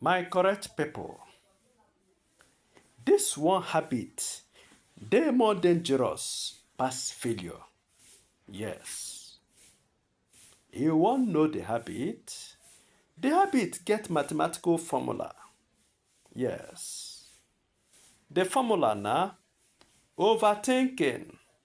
My correct people, this one habit dey more dangerous pass failure. Yes. You wan know the habit? The habit get mathematical formula. Yes. The formula na overthinking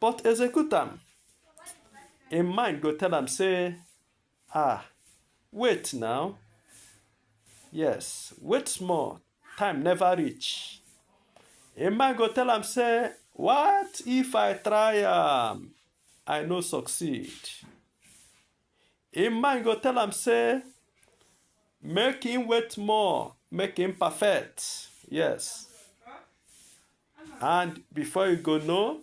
but execute am im mind go tell am say ah wait now yes wait small time never reach im mind go tell am say what if i try am i no succeed Im mind go tell am say make im wait more, make im perfect. Yes. And before you go know,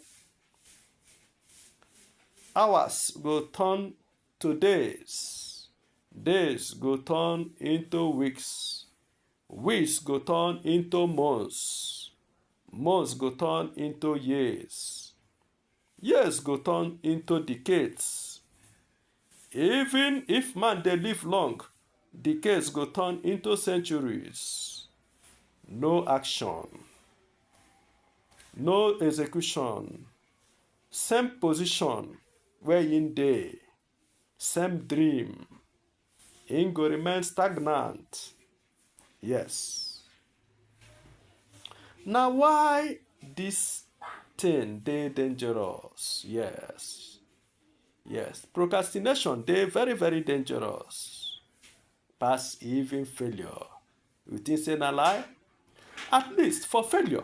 hours go turn to days. Days go turn into weeks. Weeks go turn into months. Months go turn into years. Years go turn into decades. Even if man dey live long, decades go turn into centuries. No action, no execution, same position where im dey. same dream e go remain stagnant yes na why dis thing dey dangerous yes yes procrastination dey very very dangerous pass even failure you think say na lie at least for failure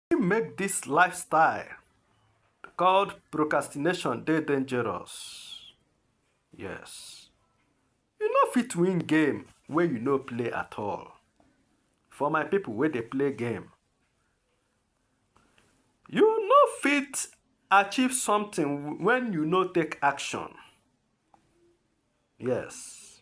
Wetin make dis lifestyle called procrastination dey dangerous? Yes. You no fit win game wey you no play at all. For my people wey dey play game, you no fit achieve something when you no take action. Yes.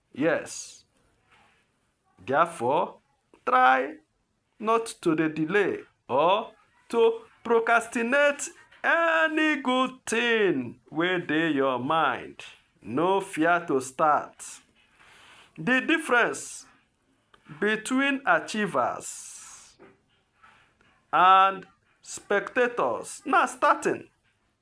Yes. Therefore, try not to dey delay or to procrastinate any good thing wey dey your mind. No fear to start. The difference between achievers and spectators na starting.